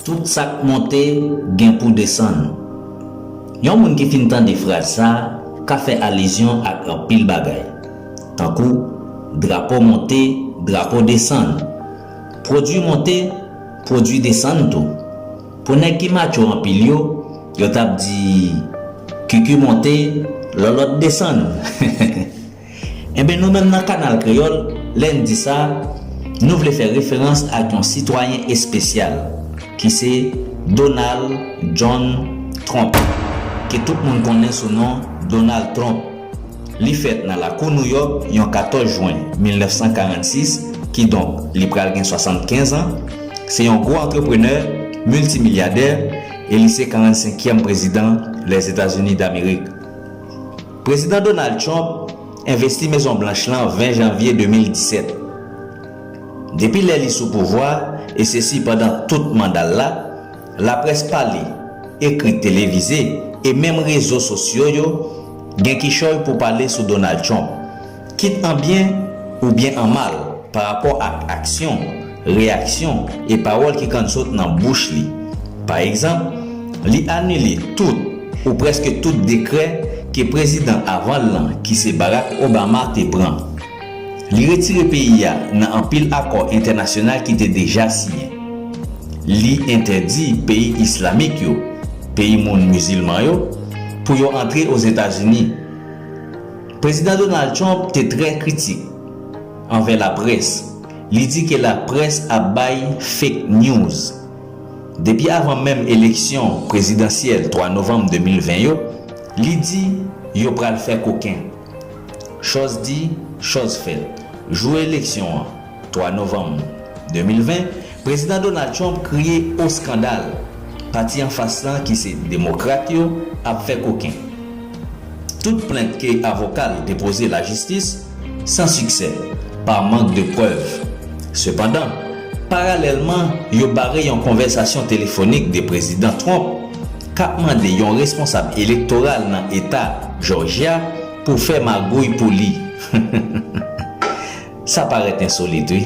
Tout sa k monte gen pou desann. Yon moun ki fin tande fraz sa a ka fè alizyon ak anpil bagay, tankou drapo monte, drapo desann, pwodui monte, pwodui desann tou. Pou nèg ki matcho anpil yo, yo t ap di, Kiki monte, Lòlòt desann. Enben nou menm nan Kanal Kreyòl, lè n di sa, nou vle fè referans ak yon sitwayen espesyal, ki se Donald John Trump, ke tout moun konnen sou non Donal Twonp. Li fèt nan lakou Nouyòk yon 14 jwen 1946, kidonk li pral gen 75 an. Se yon gwo antreprenè, miltimilyadè, e li se 45 kièm prezidan Lèzetazini Damerik. Prezidan Donald Trump envesti Mezon Blanch lan 20 janvye 2017. Depi lè li sou pouvwa, e sesi pandan tout manda l la, Laprès pale, ekri, televize, e menm rezo sosyo yo gen kichòy pou pale sou Donald Trump, kit an byen oubyen an mal, pa rapò ak aksyon, reyaksyon, e pawòl ki kann sot nan bouch li. Pa egzanp, li anile tout ou prèske tout dekrè ke prezidan avan l lan, ki se Barack Obama, te pran. Li retire peyi a nan anpil akò entènasyonal ki te deja siyen. Li entèdi peyi islamik yo, peyi moun mizilman yo, pou yo antre Ozetazini. Prezidan Donald Trump te trè kritik anvè laprès, li di ke laprès ap bay fake news. Depi avan menm eleksyon prezidansyèl 3 novanm 2020 yo, li di yo pral fè koken. Chòz di, chòz fèt. Jou eleksyon an, 3 novanm 2020, Prezidan Donald Trump kriye o skandal! Pati anfas lan ki se Demokrat yo ap fè koken. Tout plent ke avoka l depoze lajistis, san siksè, pa mank de prèv. Sepandan, paralèlman, yo bare yon konvèsasyon telefonik de Prezidan Trump, k ap mande yon responsab elektoral nan eta Jòjya pou fè magouy pou li. Sa parèt ensolit wi.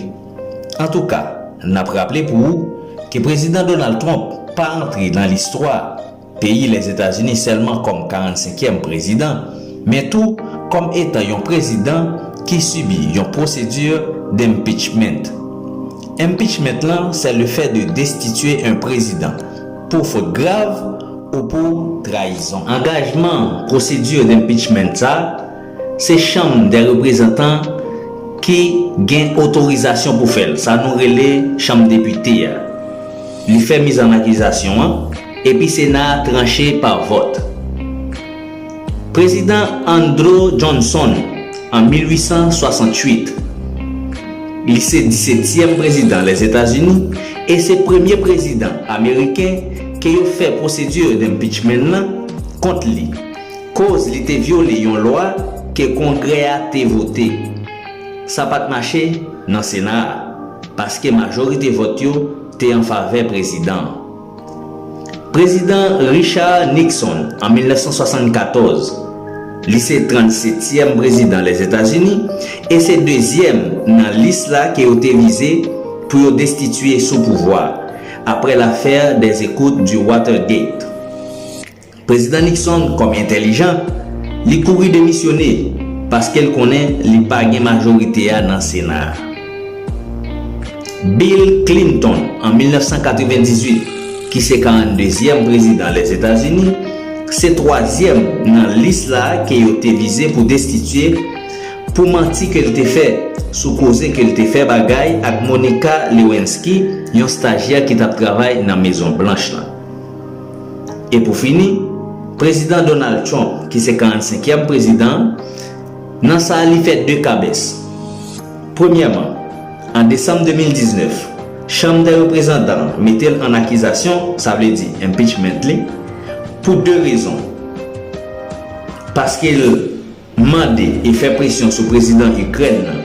Antouka, n ap raple pou ou ke Prezidan Donald Trump pa antre nan listwa peyi Lèzetazini sèlman kòm 45 kièm prezidan, men tou kòm etan yon prezidan ki sibi yon procedure d'impeachment. Impeachment lan sè le fè de destitye un prezidan. Pou fot grav ou pou trayizon. Angajman procedure d'impeachment sa, se chanm dè reprezantan ki gen otorizasyon pou fè l, sa nou rele chanm depite a. Li fè mizannakizasyon an, epi sena a tranche pa vòt. Prezidan Andrew Johnson an 1868. Li se disetyèm prezidan Lèzetazini e se premye prezidan ameriken ke yo fè pwosedi d'impeachment lan kont li koz li te vyole yon lwa ke Kongrè a te vote. Sa pat mache nan Sena a paske majorite vòt yo te an favè prezidan an. Prezidan Richard Nixon, an 1974, li se 37 tièm prezidan Lèzetazini e se dezyèm nan lis la ke yo te vize pou yo destitye sou pouvwa, apre l'affaire des écoutes du Watergate. Prezidan Nixon kòm entèlijan, li kouri demisyone paske l konnen li pa gen majorite a nan Sena a. Bill Clinton an 1998, ki se 42 zyèm prezidan Lèzetazini, se twazyèm nan lis la ke yo te vize pou destitye pou manti ke l te fè sou koze ke l te fè bagay ak Monica Lewinsky, yon stajyè ki t ap travay nan Mezon Blanch lan. E pou fini, Prezidan Donald Trump, ki se 45 kièm prezidan an, nan sa a li fè 2 kabès. Premyèman, an desanm 2019, Chanm dè Reprezantan an mete l an akizasyon, sa vle di impeachment li, pou 2 rezon, paske l. mande e fè presyon sou prezidan Ikrèn nan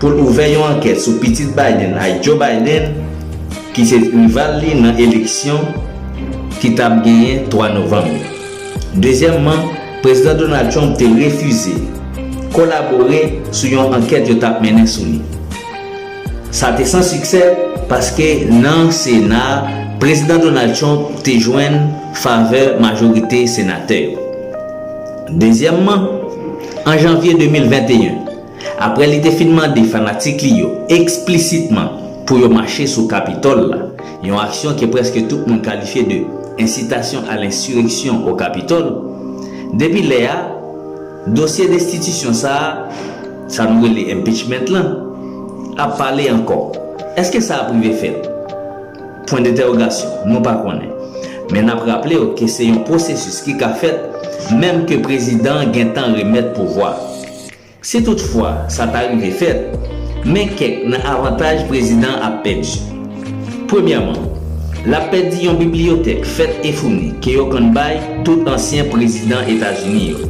pou l ouvè yon ankèt sou pitit Biden a Joe Biden ki se rival li nan eleksyon ki t ap genyen 3 novanm yo. Dezyèmman, Prezidan Donald Trump te refize kolabore sou yon ankèt yo t ap mennen sou li. Sa te san siksè paske nan Sena a, Prezidan Donald Trump te jwenn favè majorite senatè yo. Dezyèmman, an janvye 2021, aprè li te fin mande fanatik li yo eksplisitman pou yo mache sou Kapitòl la, yon aksyon ke prèske tout moun kalifye de incitation à l'insurrection au Capitole, depi lè a, dosye destitisyon sa a, sa nou rele impeachment lan, ap pale ankò. Èske sa ap rive fèt? Pwendentèwogasyon, Nou pa konnen. Men n ap raple w ke se yon pwosesis ki ka fèt menm ke prezidan an gen tan remèt pouvwa. Si tout fwa sa ta rive fèt, men kèk nan avantaj prezidan an ap pèdi. Premyèman, l ap pèdi yon bibliyotèk fèt e founi ke yo konn bay tout ansyen prezidan Etazini yo.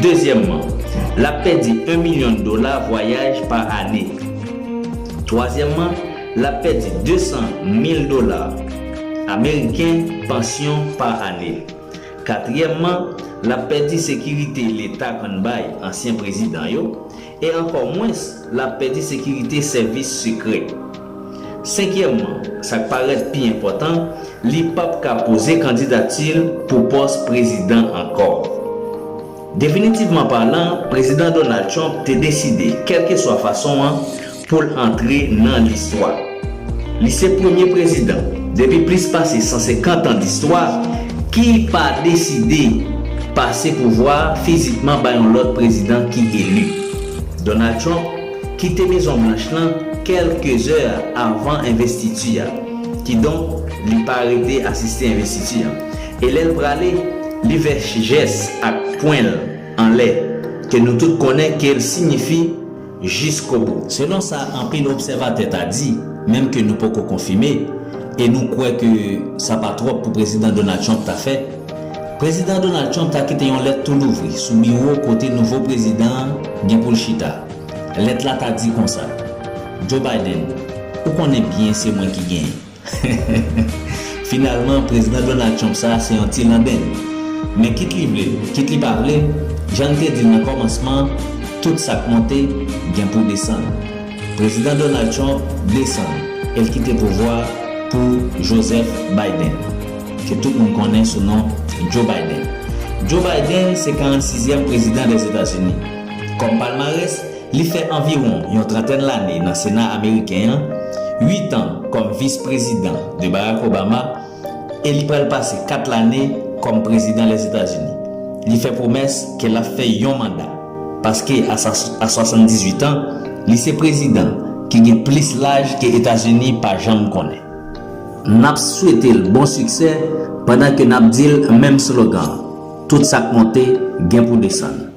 Dezyèmman, l ap pèdi 1 milyon dola vwayaj pa ane. Twazyèmman, L ap pèdi 200 mil dola ameriken pansyon pa ane. Katriyèmman, l ap pèdi sekirite Leta konn bay ansyen prezidan yo, e ankò mwens l ap pèdi sekirite sèvis sekrè. Senkyèmman, sa k parèt pi enpòtan, li p ap ka poze kandidati l pou pòs prezidan ankò. Definitivman palan, Prezidan Donald Trump te deside, kèlkeswa fason an, pou l antre nan listwa. Li se premye prezidan, depi plis pase 150 an distwa, ki pa deside pase pouvwa a fizikman ba yon lòt prezidan ki eli. Donald Trump kite Mezon Blanch lan kèlke zè avan envestiti a, kidonk li pa rete asiste envestiti an. E lè l prale, li vè jès ak pwen l anlè, ke nou tout konnen ke l sinyifi, Jiskobou. Selon sa anpil obsèvatè ta di, menm ke nou poko konfime, e nou kwè ke sa pa twòp pou Prezidan Donald Trump ta fè, Prezidan Donald Trump ta kite yon lèt tou louvri sou biwo kote nouvo prezidan an gen pou l chita. Lèt la ta di konsa, Joe Biden, ou konnen byen se mwen ki genyen. Finalman, Prezidan Donald Trump sa a se yon ti landenn. Men kit li vle l, kit li pa vle, jan n te di l nan kòmansman an, tout sa k monte gen pou desann. Prezidan Donald Trump desann e l kite pouvwa a pou Joseph Biden, ke tout moun konnen sou non Joe Biden. Joe Biden se 46 zyèm prezidan Lèzetazini. Kòm palmarès, Li fè anviwon yon trantèn lane nan Sena ameriken an, uit an kòm vis prezidan de Barack Obama e li pral pase kat lane kòm prezidan Lèzetazini. Li fè pwomès ke l ap fè yon manda, paske a 78 an, li se prezidan ki gen plis laj ke Etazini pa janm konnen. N ap swete l bon siksè pandan ke n ap di l menm slogan, Tout sa k monte gen pou desann.